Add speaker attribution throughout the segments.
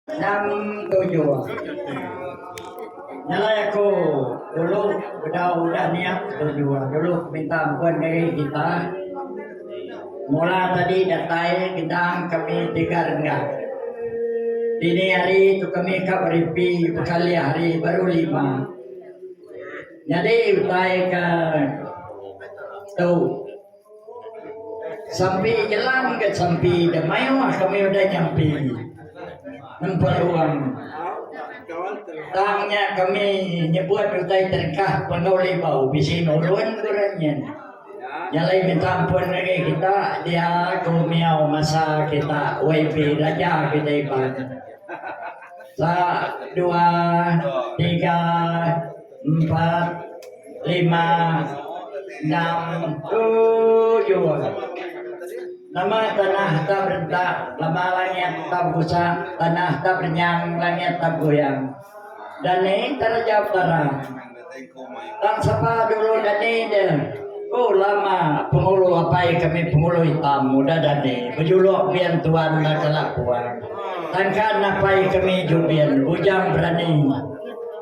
Speaker 1: Tang tuju nyelai aku dulu bedau udah niat tuju dulu minta empun diri kita mula tadi datai Gendang kami tiga renggat dini hari tu kami ka beripi bekalih hari baru lima nyadi utai ka tu. Sampi jelan ke sampi da mayuh kami udah nyampi nempa ruang tang nya kami nyebut utai terengkah Penau Libau bisi nurun ku orang nyin. Nyalai minta ampun ngagai kita dia ku miau masa kita YB Raja kita Iban. Sa dua tiga. Empat, lima, enam, tujuh. Nama tanah ta berentak, lama langit ta begusak, tanah ta berenyang, langit ta begoyang. Dani tara jauh tarang. Tang sapa dulu dani dia? Ku lama pengulu apai kami pengulu itam udah dani bejuluk bian tuan enda kala puan. Tangkan apai kami Jubin bujang berani.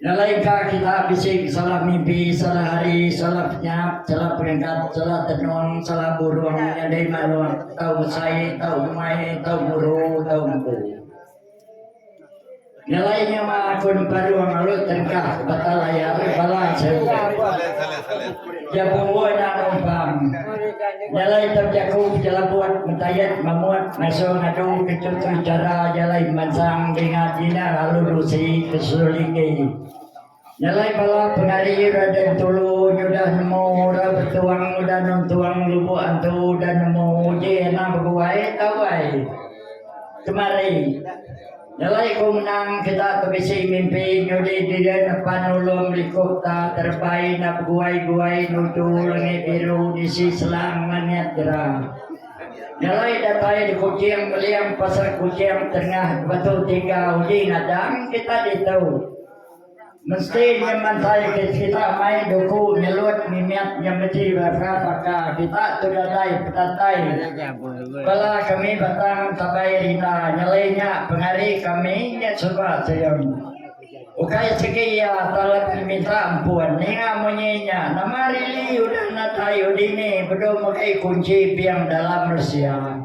Speaker 1: Ngelaika kita bisi salah mimpi, salah hari, salah penyap, salah peringkat, salah tenung, salah burung, nyadi manuh, tau besai, tau umai, tau guru, tau empu. Ngelai nyema aku nempa ruang alut tengkah bata layar bala seruntuk. Jaku Luo enda bau empam. Jalai tau jaku pejelabut metayat mamut ngasuh ngadu ke chuntu chara jalai pemansang dinga jina lalu dusi ke suliki. Jalai bala pengari Raden Tulu nyudah nemu ra betuang udah nuntuang lubuk antu udah nemu uji anak beguai tau ai. Kemari. Nyelai ku menang kita ke bisi mimpi nyudi diri nepan nulung liku ta terebai enda beguai-guai nuju langit biru nisi selang langit jera. Nyelai datai di Kuching Meling Pasar Kuching Tengah Batu Tiga uji nadang kita ditu. Mesti nya mantai ke kita mai duku nyelut mimit nya beti baka paka kita tu dadai pedatai bala kami batang tabai rina nyelai nya pengari kami nya suba Sion. Ukai sigi iya tang lagi minta ampun ninga munyi nya nama rili udah nadai udini bedum mega kunchi bing dalam Rusia.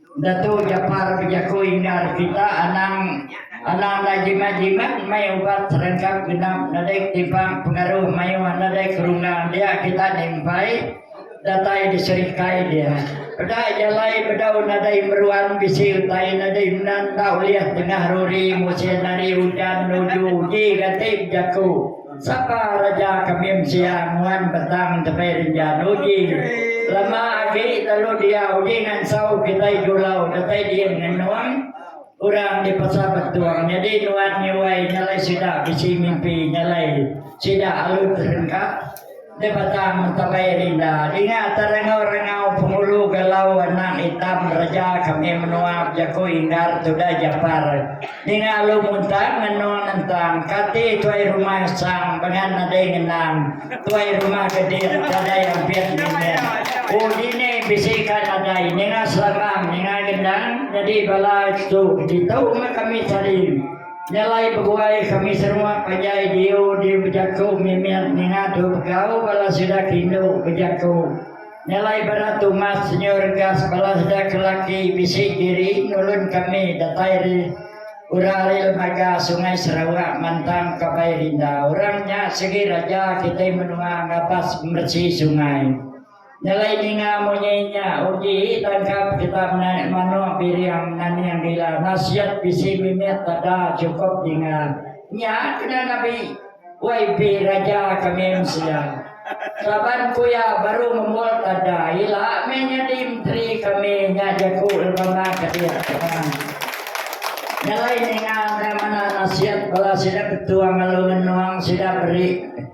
Speaker 1: Datu Japar bejaku Indar kita anang anang enda jimat jimat mei ubat serengkap genap nedik timpang pengaru mayuh nedik rungga dia kita nimpai datai diserikai dia peda jalai bedau nadai meruan bisi utai nadai menda enda ulih tengah ruri musin hari ujan nuju uji gati bejaku Sapa reja kemim sia nguan petang tepi renjan uji. Lema agi lalu dia uji ngansau kitai julau datai din ngenung orang di Pasar Betung nyadi nuan nyuai nyalai sida bisi mimpi nyalai sida alu terengkah. Di batang terai dinda dinga terengau-rengau pengulu galau anak itam reja kami menua bejaku Inggar Tuda Japar ninga alu muntang ngenung nentang kati tuai rumah Sang bengan nadai ngenang tuai rumah kedit nadai ampit ngimin ku dini bisi ka nadai ninga selamang ninga gendang nyadi bala tu ditu meh kami tadi. Nyelai bebuai kami seruak panjai diu diu bejaku mimit ninga tu begau bala sida ke indu bejaku nyelai berat tumas senyau regas bala sida ke laki bisi diri nulun kami datai ri ura ri lemaga sungai Sarawak mantang kabai rinda orang nya segi raja kitai menua ngabas meresi sungai. Nyelai ninga munyi nya uji tangkap kitak naik manok biriang naning ila nasiat bisi mimit tada cukup ninga nya kena nabi yb raja kami mensia saban ku iya baru ngembul tada ila meh nyadi menteri kami nya jaku lbana kadik kena nyelai ninga enda manah nasiat bala sida ketua ngelu ngenuang sida beri.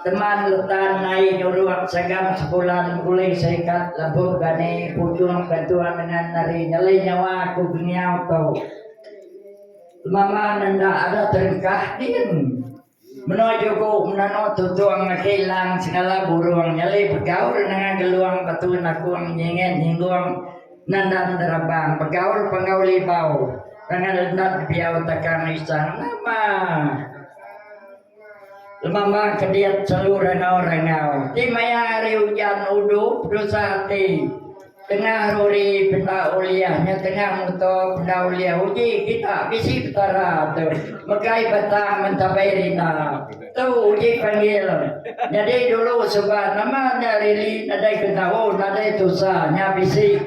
Speaker 1: Teman Utan nai nyurung Sagam sekula nengkulih serikat lebuh gani putung gantung ngengan ari nyelai nyawa ku Gengiau tu. Mama ne enda ada terengkah din. Menua Juku menanu tutung aki lang segala burung nyelai begaul nengah Geluang Batu Nakung nyinget nyinggung Nandan Derabang begaul penggau libau. Rangan Lendat Biau Takang Isang nama. Lemamba ke diat selu rengau-rengau ti maya hari ujan udup tusah ati. Tengah ruri peda uliah nya tengah muto peda uliah uji kita bisi Petara tu megai batang mentabai rina. Tu uji panggil. Nyadi dulu suba nama nya rili nadai ke tau nadai tusah nya bisi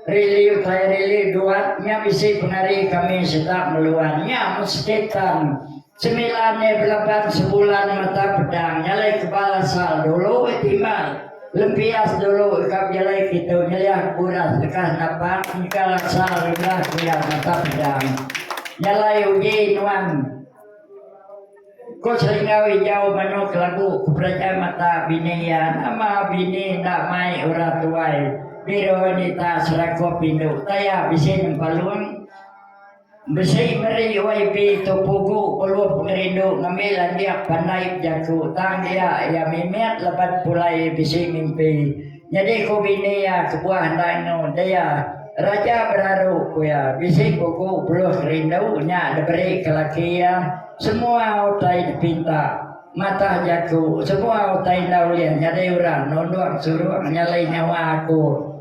Speaker 1: rili utai rili duat nya bisi pengari kami sitak meluan nya mesti tan. Semila ne belaban sebulan mata pedang nyalai kebal asal dulu eh timbai lempias dulu ka pejalai kitu nyeliah buras lekas napang engkal asal ri belah kuya mata pedang nyalai uji nuan ko selinggau ijau manu ke lagu ke pereja mata bini iya nama bini enda mai orang tuai biro wanita serakup indu taya bisi nyempalung. Bisi meri YB tu pugu beluh ngerindu ngambi landik pandaip jaku tang iya iya mimit leban pulai bisi mimpi nyadi ku bini iya kebuah enda engu dia Raja Beraru ku iya bisi pugu beluh ngerindu nya diberi ke laki iya semua utai dipinta matah jaku semua utai enda ulih nyadi orang nundung surung nyelai nyawa aku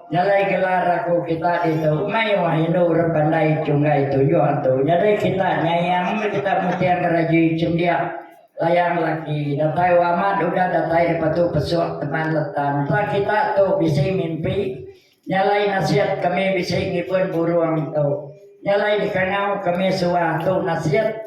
Speaker 1: Nyelai gelar aku kita ditu mayuh indu orang pandai chunggai tujuh tu nyadi kita nyayang meh kita muting ke rajui chendik layang laki datai wamat udah datai dipatu pesuk teman letan tang kita tu bisi mimpi nyelai nasit kami bisi ngibun burung tu nyelai dikangau kami suah tu nasit.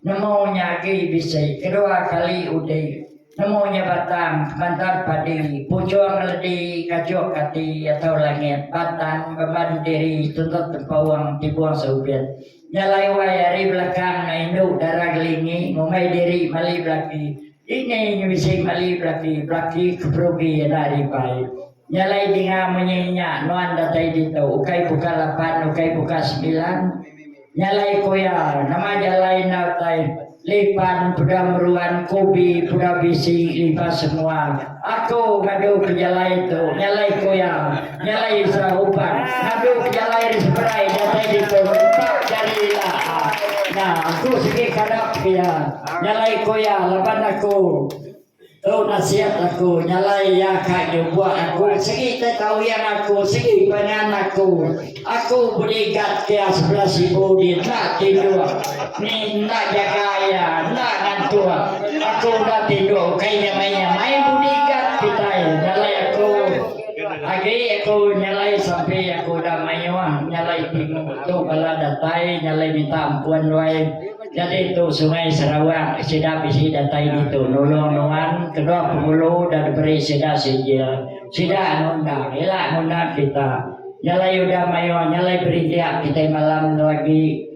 Speaker 1: Nemu nya agi bisi kedua kali undi. Nemu nya batang kemantan padi, pujung ngeledi kajuk kati atau langit, batang beban diri tuntut tempauang tibung seubit. Nya alai wai ari belakang anak indu dara Gelingi ngumbai diri mali belaki. Dini nya bisi mali belaki, belaki ke perugi enda ari bai. Nya alai dinga munyi nya nuan datai ditu ukai buka lapan ukai buka semilan nya alai ku iya nama jalai enda utai lipan peda meruan kubi peda bisi lipa semua aku ngadu ke jalai tu nya alai ku iya nya alai Isra Uban ngadu ke jalai ri seberai datai ditu nempak jari ila a nya aku sigi kadap ke iya nya alai ku iya laban aku Tu nasihat aku nyalai iya ka nyubok aku segi te kawian aku segi pangan aku. Aku bodyguard ke sebelah sibu di enda tinduk ni enda jaga iya enda ngantuk. Aku enda tinduk ukai nyamai nyamai bodyguard kitai nyalai aku agi aku nyalai sampi aku dah mayuh nyalai bingung tu bala datai nyalai minta ampun wai. Nyadi tu Sungai Sarawak sida bisi datai ditu nulung nuan kedua Penghulu udah diberi sida sijil. Sida anu enda, ila nguna kita. Nyalai udah mayuh, nyalai berindik kitai malam enda agi.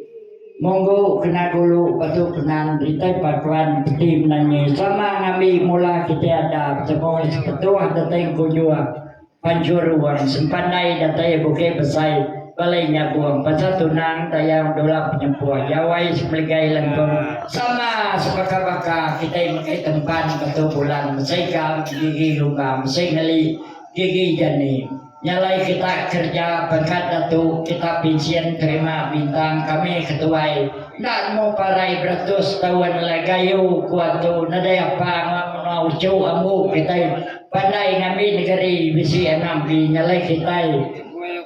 Speaker 1: Munggu kena gulu batu Penan Ditai Pakuan Peti Menanyi sama ngambi mula kitai ada betemu Sepetuh Datai Kujur. Manjur wang sempandai datai Bukit Besai balai nyabung pasal tunang tayau dula penyempuh Yawai Semeligai Lengkung sama sebaka-baka kitai mega tempan batu bulan mesei gam gigi lumba mesei ngeli gigi jani nyalai kita kerja pangkat datu kita pinsyen terima bintang kami ketuai enda nemu parai beratus taun alai gayu ku atu nadai apa ngau menua uchu ambu kitai Pandai ngambi negeri bisi anang ti nyelai kitai.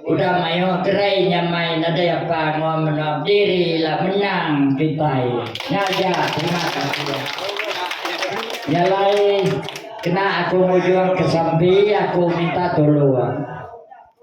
Speaker 1: Udah mayuh kerai nyamai nadai apa enggau menoa bediri ila menang kitai. Ngaja terima kasih. Nyelai kena aku mujung ke sampi aku minta tulung.